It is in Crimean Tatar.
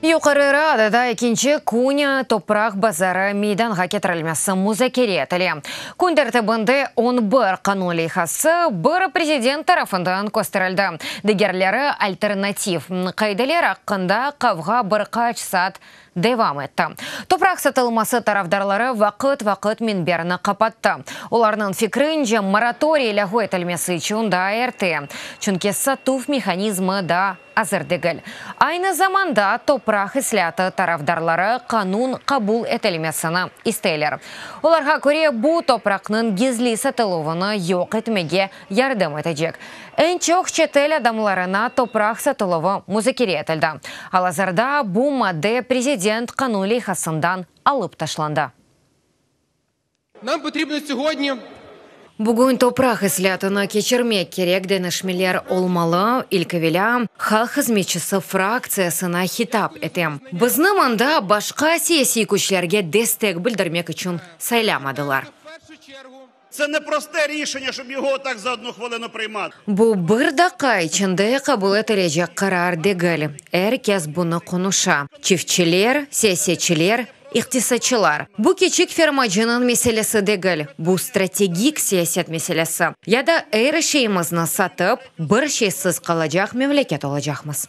Yuqarı Radada ekinci künü topraq bazarı meydanğa ketirilmesi muzakere etile. Kün tertibinde on bir qanun leyhası, biri prezident tarafından kösterildi, digerleri alternativ qaideler aqqında qavğa bir qaç saat devam etti. Topraq satılması tarafdarları vaqıt-vaqıt minberni qapattı. Olarnıñ fikrince, moratoriy lâğu etilmesi içün daa erte, çünki satuv mehanizmi daa azır degil. Aynı zamanda topraq islâtı tarafdarları qanun qabul etilmesini isteyler. Olarğa köre, bu, topraqnıñ gizli satıluvını yoq etmege yardım etecek eñ çoq çetel adamlarına topraq satıluvı muzakere etildi. Al-azırda bu madde prezident qanun leyhasından alıp taşlandı. Nam potribno segodnâ. Bugün topraq islâtını keçirmek kerek deñişmeler olmalı, ilk evelâ, halq hızmetçisi fraktsiyasına hitap etem. Bizni mında başqa siyasiy küçlerge destek bildirmek içün saylamadılar. Bu bir daqqa içinde qabul etilecek qarar degil, er kes bunı qonuşa, çiftçiler, siyasetçiler, iqtisadçılar. Bu kiçik fermacınıñ meselesi degil, bu strategik siyaset meselesi, ya da er şeyimizni satıp, bir şeysiz qalacaq memleket olacaqmız.